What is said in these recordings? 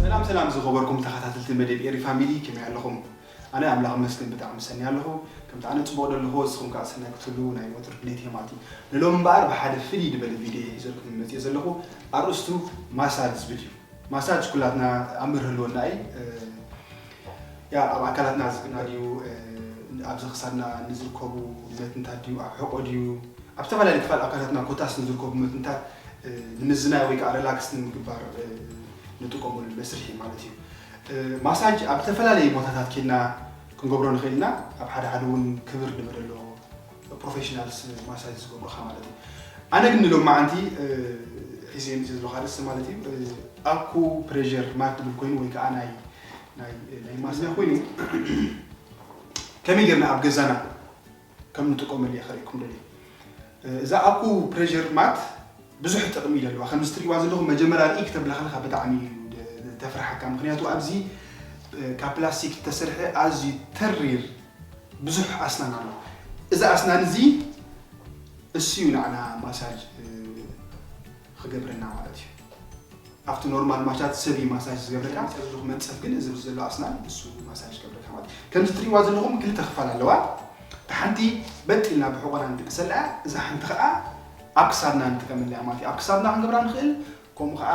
ሰላም ሰላም ዝኸበርኩም ተኻታተልቲ መዴብ ኤሪ ፋሚሊ ከመይ ኣለኹም ኣነ ኣምላኽ ይመስገን ብጣዕሚ ሰኔ ኣለኹ ከምቲ ኣነ ጽቡቕ ደለኹ እስኹም ከኣ ሰናይ ክትህልዉ ናይ ወትሩ ድሌት እየ ማለት እዩ ንሎሚ እምበኣር ብሓደ ፍልይ ድበለ ቪድዮ እየ ሒዘልኩም መጽየ ዘለኹ ኣርእስቱ ማሳጅ ዝብል እዩ ማሳጅ ኩላትና ኣምር ህልወና እዪ ያእ ኣብ ኣካላትና ዝግበር ድዩ ኣብዚ ክሳድና ንዝርከቡ መትንታት ድዩ ኣብ ሕቆ ድዩ ኣብ ዝተፈላለዩ ክፋል ኣካላትና ኮታስ ንዝርከቡ መትንታት ንምዝናይ ወይ ከዓ ረላክስ ንምግባር ንጥቀመሉ መስርሕ እዩ ማለት እዩ ማሳጅ ኣብ ዝተፈላለዩ ቦታታት ኬድና ክንገብሮ ንኽእል ኢና ኣብ ሓደ ሓደ እውን ክብር ንበለ ኣሎ ፕሮፌሽናልስ ማሳጅ ዝገብሩካ ማለት እዩ ኣነ ግን ንሎም መዓንቲ ሒዘ ምስ ዝለካ ርእሲ ማለት እዩ ኣኩ ፕሬር ማት ትብል ኮይኑ ወይ ከዓ ናይ ናይ ማስና ኮይኑ ከመይ ጌርና ኣብ ገዛና ከም ንጥቀመሉ እየ ከርእየኩም ደልየ እዛ ኣኩ ፕሬዠር ማት ብዙሕ ጥቕሚ እዩ ዘለዋ ከምዚ ትሪእዋ ዘለኹም መጀመርያ ርኢ ክተብላ ከለካ ብጣዕሚ እዩ ተፍርሓካ ምክንያቱ ኣብዚ ካብ ፕላስቲክ ዝተሰርሐ ኣዝዩ ተሪር ብዙሕ ኣስናን ኣሎ እዚ ኣስናን እዚ እሱ እዩ ንዓና ማሳጅ ኽገብረልና ማለት እዩ ኣብቲ ኖርማል ማቻት ሰብ እዩ ማሳጅ ዝገብረካ እዚ ዝኹ መንፀፍ ግን እዚ ዘሎ ኣስናን ንሱ ማሳጅ ዝገብረካ ማለት ከምዚ ትሪእዋ ዘለኹም ክልተ ክፋል ኣለዋ እቲ ሓንቲ በጥ ኢልና ብሕቆና ንድቅሰላ እዛ ሓንቲ ከዓ ኣብ ክሳድና ንጥቀመላ ማለት እዩ ኣብ ክሳድና ክንገብራ ንኽእል ከምኡ ከዓ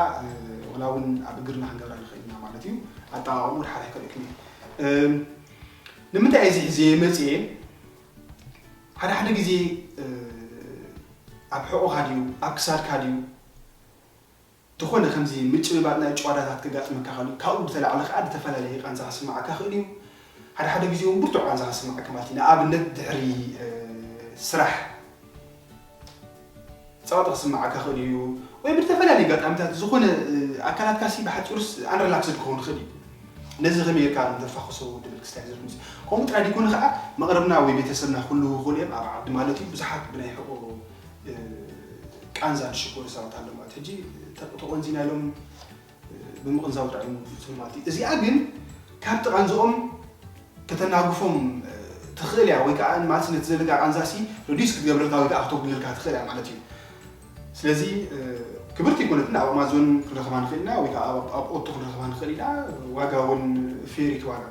ወላ እውን ኣብ እግርና ክንገብራ ንኽእል ኢና ማለት እዩ ኣጠቃቅሙ ሓላይ ከሪእክኒ ንምንታይ እዚ ሒዘ መፅኤ ሓደ ሓደ ግዜ ኣብ ሕቖኻ ድዩ ኣብ ክሳድካ ድዩ ዝኾነ ከምዚ ምጭብባጥ ናይ ጭዋዳታት ከጋጥመካ ክእል እዩ። ካብኡ ብተላዕሊ ከኣ ዝተፈላለየ ቃንዛ ክስመዓካ ክእል እዩ። ሓደ ሓደ ግዜ ውን ብርቱዕ ቃንዛ ክስመዓካ ማለት እዩ። ንኣብነት ድሕሪ ስራሕ። ጸቕጢ ክስምዓካ ይኽእል እዩ፣ ወይ ብዝተፈላለየ ኣጋጣሚታት ዝኾነ ኣካላትካሲ ብሓጺሩስ ኣንሪላክስድ ክኸውን ይኽእል እዩ። ነዚ ከመይ ጌርካ ከም ተፋኹሶ ድብል ክስታይ ዝብል ክምጽእ። ከምኡ ጥራይ ደይኮነ ከኣ መቕርብና ወይ ቤተሰብና ክህልዉ ይኽእሉ እዮም፣ ኣብ ዓዲ ማለት እዩ፣ ብዙሓት ብናይ ሕቖ ቃንዛ ዝሽገሩ ሰባት ኣለዉ ማለት እዩ። ሕጂ ተቖንዚና ኢሎም። ብምቕንዛው ጥራይ እዩ ዝፍጽሙ ማለት እዩ። እዚኣ ግን ካብ እቲ ቃንዝኦም ከተናግፎም ትኽእል እያ ወይ ከኣ ማለት ነቲ ዘለካ ቃንዛሲ ረዲዩስ ክትገብረልካ ወይ ከኣ ክተጉድለልካ ትኽእል እያ ማለት እዩ። ስለዚ ክብርቲ ኣይኮነትን ኣብ ኣማዞን ክንረኽባ ንኽእል ኢና ወይ ከኣ ኣብ ኦቶ ክንረኽባ ንኽእል ኢና ዋጋ እውን ፌር እዩ እቲ ዋጋ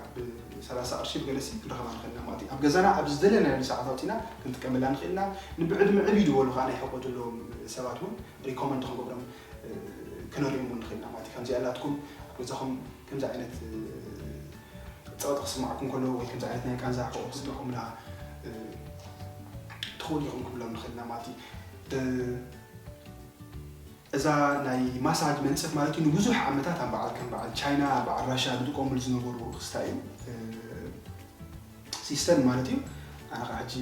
ብሰላሳ ቅርሺ ብገለሲ ክንረኽባ ንኽእል ኢና ማለት እዩ። ኣብ ገዛና ኣብ ዝደለናየሉ ሰዓት ኣውጺእና ክንጥቀመላ ንኽእል ኢና። ንብዕድመ ዕብ ኢሉ ዝበሉ ከኣ ናይ ሕቆ ዘለዎም ሰባት እውን ሪኮመንድ ክንገብሮም ክነሪም እውን ንኽእል ኢና ማለት እዩ። ከምዚኣ ናትኩም ኣብ ገዛኹም ከምዚ ዓይነት ጸቕጢ ክስምዓኩም ከሎ ወይ ከምዚ ዓይነት ናይ ቃንዛ ሕቖ ክስምዕኩምና ትኽእሉ ኢኹም ክብሎም ንኽእል ኢና ማለት እዩ። እዛ ናይ ማሳጅ መንፅፍ ማለት እዩ ንብዙሕ ዓመታት ኣብ በዓል ከም በዓል ቻይና በዓል ራሻ ዝጥቀሙሉ ዝነበሩ ክስታ እዩ ሲስተም ማለት እዩ ኣነ ከዓ ሕጂ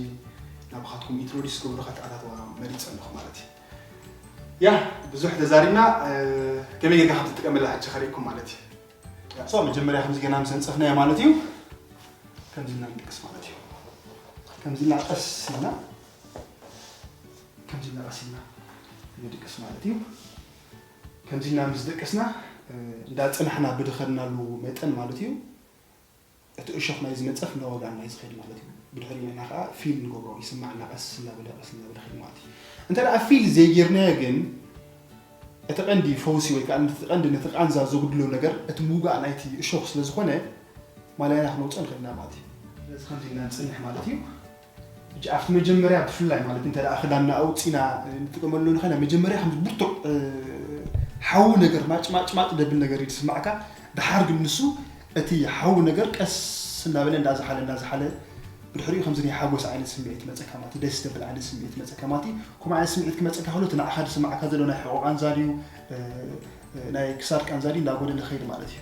ናባኻትኩም ኢንትሮዲስ ክገብሩ ከተኣታተዋ መሪፀ ኣለኹ ማለት እዩ ያ ብዙሕ ተዛሪብና ከመይ ጌርካ ከም ትጥቀመላ ሕጂ ከርእኩም ማለት እዩ ሶ መጀመርያ ከምዚ ገና ምስ ኣንጸፍናዮ ማለት እዩ ከምዚ እና ንጥቅስ ማለት እዩ ከምዚ እና ቀስ ኢልና ከምዚ እና ቀስ ኢልና ንድቅስ ማለት እዩ ከምዚ እና ምስ ደቀስና እንዳጸናሕና ብድኸድናሉ መጠን ማለት እዩ እቲ እሾኽ ናይ ዝነጸፍ እናወጋእና እዩ ዝኸይድ ማለት እዩ። ብድሕሪኡ ንሕና ከኣ ፊል ንገብሮ ይስማዓና ቀስ እናበለ ቀስ እናበለ ከይድ ማለት እዩ። እንተ ደኣ ፊል ዘይጌርናዮ ግን እቲ ቀንዲ ፈውሲ ወይ ከኣ ነቲ ቀንዲ ነቲ ቃንዛ ዘጉድሎ ነገር እቲ ምውጋእ ናይቲ እሾኽ ስለ ዝኾነ ማላይና ክነውጽኦ ንኽእል ኢና ማለት እዩ። ስለዚ ከምዚ ኢልና ንጽንሕ ማለት እዩ። ሕጂ ኣብቲ መጀመርያ ብፍላይ ማለት እንተ ክዳንና ኣውጺና ንጥቀመሉ ንኸ ናይ መጀመርያ ከምዚ ብርቱዕ ሓዊ ነገር ማጭማጭማጭ ደብል ነገር እዩ ዝስማዕካ ደሓር ግን ንሱ እቲ ሓዊ ነገር ቀስ እናበለ እንዳዝሓለ እንዳዝሓለ ብድሕሪኡ ከምዚ ናይ ሓጎስ ዓይነት ስምዒት ይመጸካ ማለት ደስ ደብል ዓይነት ስምዒት ይመጸካ ማለት ከምኡ ዓይነት ስምዒት ክመጸካ ከሎ እቲ ንዓኻ ዝስማዕካ ዘሎ ናይ ሕቖ ቃንዛ ድዩ ናይ ክሳድ ቃንዛ ድዩ እንዳጎደለ ከይድ ማለት እዩ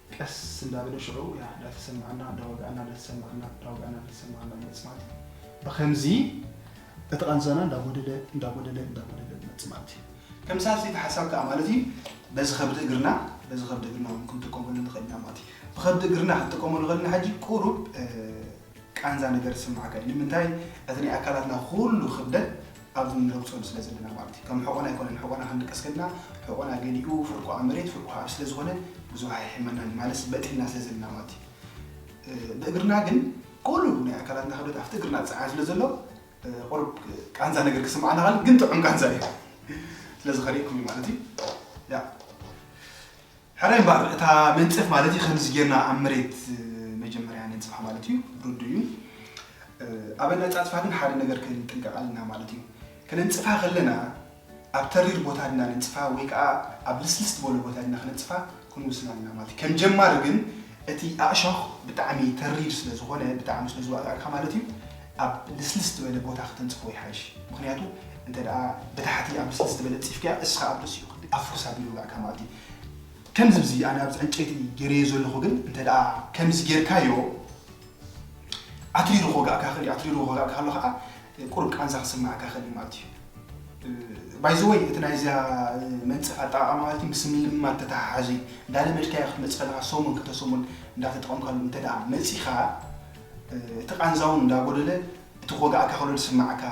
ቀስ እንዳበለ ሽዑ ያህ ዳተሰማዕና ዳወግኣና ዳተሰማዕና ዳወግኣና ዳተሰማዕና ይመጽእ ማለት እዩ። ብኸምዚ እቲ ቃንዛና እንዳጎደለ እንዳጎደለ እንዳጎደለ ይመጽእ ማለት እዩ። ተመሳሳሊ እቲ ሓሳብ ከኣ ማለት እዩ በዚ ከብዲ እግርና በዚ ከብዲ እግርና ውን ክንጥቀመሉ ንኽእል ኢና ማለት እዩ። ብከብዲ እግርና ክንጥቀመሉ ከለና ሕጂ ቁሩብ ቃንዛ ነገር ዝስምዓካ እዩ ንምንታይ እቲ ናይ ኣካላትና ኩሉ ክብደት ኣብዚ ንረግጸሉ ስለ ዘለና ማለት እዩ ከም ሕቆና ኣይኮነን ሕቆና ክንድቅስ ከድና ሕቆና ገሊኡ ፍርቁ ኣብ መሬት ፍርቁ ኣብ ስለ ዝኾነ ብዙሕ ኣይሕመናን ማለት በጢልና ስለ ዘለና ማለት እዩ ብእግርና ግን ኩሉ ናይ ኣካላትና ክብደት ኣብቲ እግርና ዝፀዓን ስለ ዘሎ ቁሩብ ቃንዛ ነገር ክስምዓና ኸል ግን ጥዑም ቃንዛ እዩ ስለዚ ከሪእኩም እዩ ማለት እዩ ሕራይ እምበኣር እታ መንጸፍ ማለት እዩ ከምዚ ጌርና ኣብ መሬት መጀመርያ ነንጽፋ ማለት እዩ ርዱእ እዩ ኣብ ኣነጻጽፋ ግን ሓደ ነገር ክንጥንቀቕ ኣለና ማለት እዩ ከነንጽፋ ከለና ኣብ ተሪር ቦታ ድና ነንጽፋ ወይ ከዓ ኣብ ልስልስ ዝበለ ቦታ ድና ክነንጽፋ ክንውስን ኣለና ማለት እዩ ከም ጀማሪ ግን እቲ ኣእሾኽ ብጣዕሚ ተሪር ስለ ዝኾነ ብጣዕሚ ስለ ዝዋጣልካ ማለት እዩ ኣብ ልስልስ ዝበለ ቦታ ክተንጽፎ ይሓይሽ ምኽንያቱ እንተ ብታሕቲ ኣብ ልስልስ ዝበለ ኣንጺፍካያ እስኻ ኣብ ርእሲኡ ክንዲ ኣብ ፉርሳ ኣቢሉ ይወግኣካ ማለት እዩ ከምዚ ብዚ ኣነ ኣብዚ ዕንጨይቲ ጌረዮ ዘለኹ ግን እንተ ከምዚ ጌርካዮ ኣትሪሩ ክወግኣካ ይኽእል እዩ ኣትሪሩ ክወግኣካ ከሎ ከዓ ቁሩብ ቃንዛ ክስምዓካ ይኽእል እዩ ማለት እዩ ባይዘወይ እቲ ናይዚያ መንፀፍ ኣጠቃቅማ ማለት ምስ ምልማድ ተተሓሓዙ እንዳለመድካዮ ክትመፅእ ከለካ ሰሙን ክልተ ሰሙን እንዳተጠቀምካሉ እንተደኣ መፂኻ እቲ ቃንዛ ውን እንዳጎደለ እቲ ክወግኣካ ከሎ ዝስምዓካ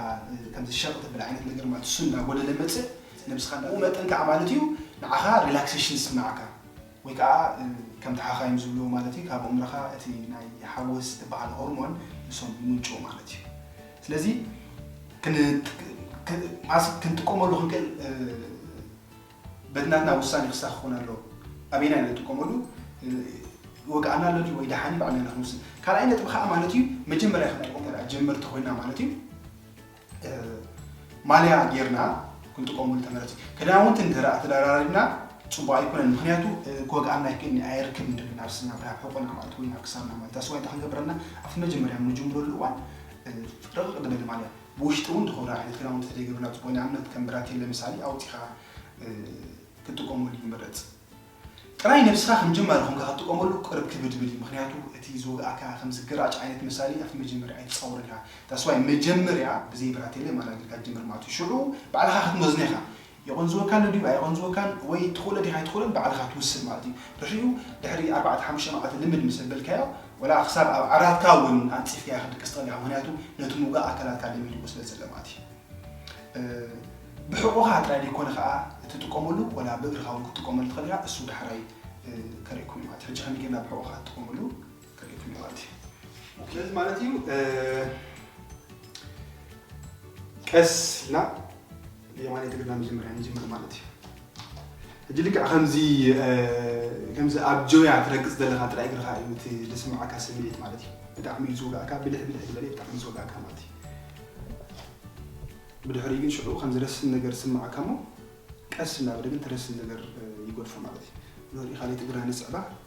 ከምዚ ሸቅ ዘብል ዓይነት ነገር ማለት እሱ እንዳጎደለ መጽእ ነብስካ ብኡ መጠን ካኣ ማለት እዩ ንዓካ ሪላክሰሽን ዝስምዓካ ወይ ካኣ ከምቲ ሓኻይም ዝብልዎ ማለት እዩ ካብ ኣእምሮካ እቲ ናይ ሓጎስ ትባሃል ሆርሞን ንሶም ይምንጭው ማለት እዩ ስለዚ ክንጥቀመሉ ክንክእል በትናትና ውሳኔ ክሳኽ ክኾን ኣለዎ ኣበየናይ ንጥቀመሉ ይወግኣና ኣሎ ድዩ ወይ ደሓን እዩ ባዕልና ኢና ክንውስን ካልኣይ ነጥቢ ከኣ ማለት እዩ መጀመርያ ክንጥቀሞ እንተ ጀመርቲ ኮይና ማለት እዩ ማልያ ጌርና ክንጥቀመሉ ተመረጽ እዩ ክዳውንቲ እንተ ተደራሪብና ጽቡቅ ኣይኮነን ምክንያቱ ክወግኣና ይክእልኒ ኣየርክብ ንደብን ኣብ ስና ብናብ ሕቆና ማለት ወይ ናብ ክሳብና ማለት ኣስዋይ እንታይ ክንገብረና ኣብቲ መጀመርያ ንጅምረሉ እዋን ረቕቕ ዝበለ ማልያ ብውሽጢ እውን እንተኾነ ዓይነት ክዳውንቲ ተደይገብርና ፅቡቕ እዩ። ንኣብነት ከም ብራቴለ ምሳሌ ኣውፂእኻ ክትጥቀመሉ ይምረፅ። ጥራይ ነብስኻ ከም ጀማሪ ኾንካ ክትጥቀመሉ ቅርብ ክብድብድ እዩ ምኽንያቱ እቲ ዝወግኣካ ከም ዝገራጭ ዓይነት ምሳሌ ኣብቲ መጀመርያ ኣይትፃወረልካ። That's why መጀመርያ ብዘይ ብራቴለ ማራ ጌርካ ጀምር ማለት እዩ ሽዑ ባዕልኻ ክትመዝኖ ኢኻ የቖንዝወካ ኣሎ ድዩ ኣይቖንዝወካን ወይ ትኽእሎ ዲኻ ኣይትኽእሎን ባዕልኻ ትውስን ማለት እዩ። ድሕሪኡ ድሕሪ ኣርባዕተ ሓሙሽተ መዓልቲ ልምድ ምስ ኣበልካዮ ዋላ ክሳብ ኣብ ዓራትካ እውን ኣንጺፍካዮ ክትድቅስ ትኽእል ኢኻ ምኽንያቱ ነቲ ምውጋእ ኣካላትካ ለሚድዎ ስለ ዘሎ ማለት እዩ። ብሕቖኻ ጥራይ ደይኮነ ከኣ እትጥቀመሉ ዋላ ብእግርኻ እውን ክትጥቀመሉ ትኽእል ኢኻ እሱ ዳሕራይ ከርእየኩም እየ ማለት እዩ። ሕጂ ከመይ ጌርና ብሕቖኻ ንጥቀመሉ? ተሪፉኒ ማለት እዩ ስለዚ ማለት እዩ ቀስ ኢልና የማን ትግርና መጀመርያ ንጅምር ማለት እዩ እጅ ልክ ከምዚ ከምዚ ኣብ ጆያ ትረግፅ ዘለካ ጥራይ እግርካ እዩ እቲ ዝስምዓካ ስምዒት ማለት እዩ ብጣዕሚ እዩ ዝውጋእካ ብልሕ ብልሕ ዝበለ ብጣዕሚ ዝውጋእካ ማለት እዩ ብድሕሪ ግን ሽዑ ከም ዝረስን ነገር ስምዓካ እሞ ቀስ እናበለ ግን ትረስን ነገር ይጎድፎ ማለት እዩ ንሪኢካ ለይቲ እግርና ንስዕባ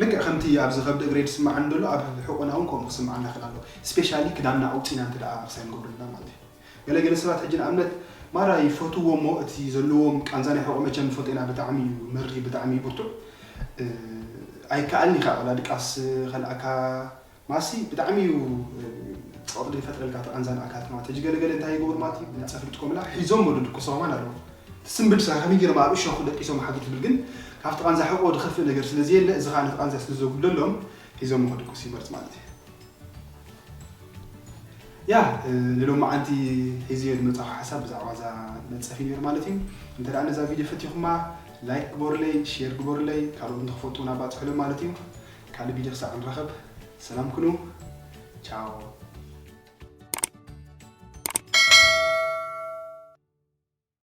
ልክዕ ከምቲ ኣብዚ ከብዲ እግረይ ዝስማዓኒ ደሎ ኣብ ሕቁና ውን ከምኡ ክስማዓና ይክእል ኣሎ ስፔሻሊ ክዳንና ኣውጺና እንተ ኣክሳይ ንገብረልና ማለት እዩ ገለ ገለ ሰባት ሕጂ ንኣብነት ማራ ይፈትዎ እሞ እቲ ዘለዎም ቃንዛ ናይ ሕቆ መቸም ፎጤና ብጣዕሚ እዩ መሪ ብጣዕሚ እዩ ብርቱዕ ኣይከኣልን ኢካ ወላ ድቃስ ከልኣካ ማሲ ብጣዕሚ እዩ ጸቕጢ ዝፈጥረልካ እቲ ቃንዛን ኣካልካ ማለት ሕጂ ገለ ገለ እንታይ ይገብሩ ማለት እዩ ብናጻ ክልጥቆምላ ሒዞሞ ዶ ድቅሶም ኣን ኣለዉ እቲ ስምብል ስራሕ ከመይ ጌሮም ኣብ እሾኽ ደቂሶም ሓግር ትብል ግን ካብቲ ቃንዛ ሕቆ ድኸፍእ ነገር ስለ ዘየለ እዚ ከኣ ነቲ ቃንዛ ስለ ዘጉድለሎም ሒዞሞ ክድቅሱ ይመርጽ ማለት እዩ ያ ንሎማዓንቲ ሒዝዮ ዝመጻኹ ሓሳብ ብዛዕባ እዛ መንጸፍ እዩ ነይሩ ማለት እዩ እንተ ደኣ ነዛ ቪድዮ ፈቲኹማ ላይክ ግበሩለይ ሼር ግበሩለይ ካልኦት ንክፈልጡ እውን ኣባጽሑሎም ማለት እዩ ካልእ ቪድዮ ክሳዕ ንራኸብ ሰላም ኩኑ ቻው።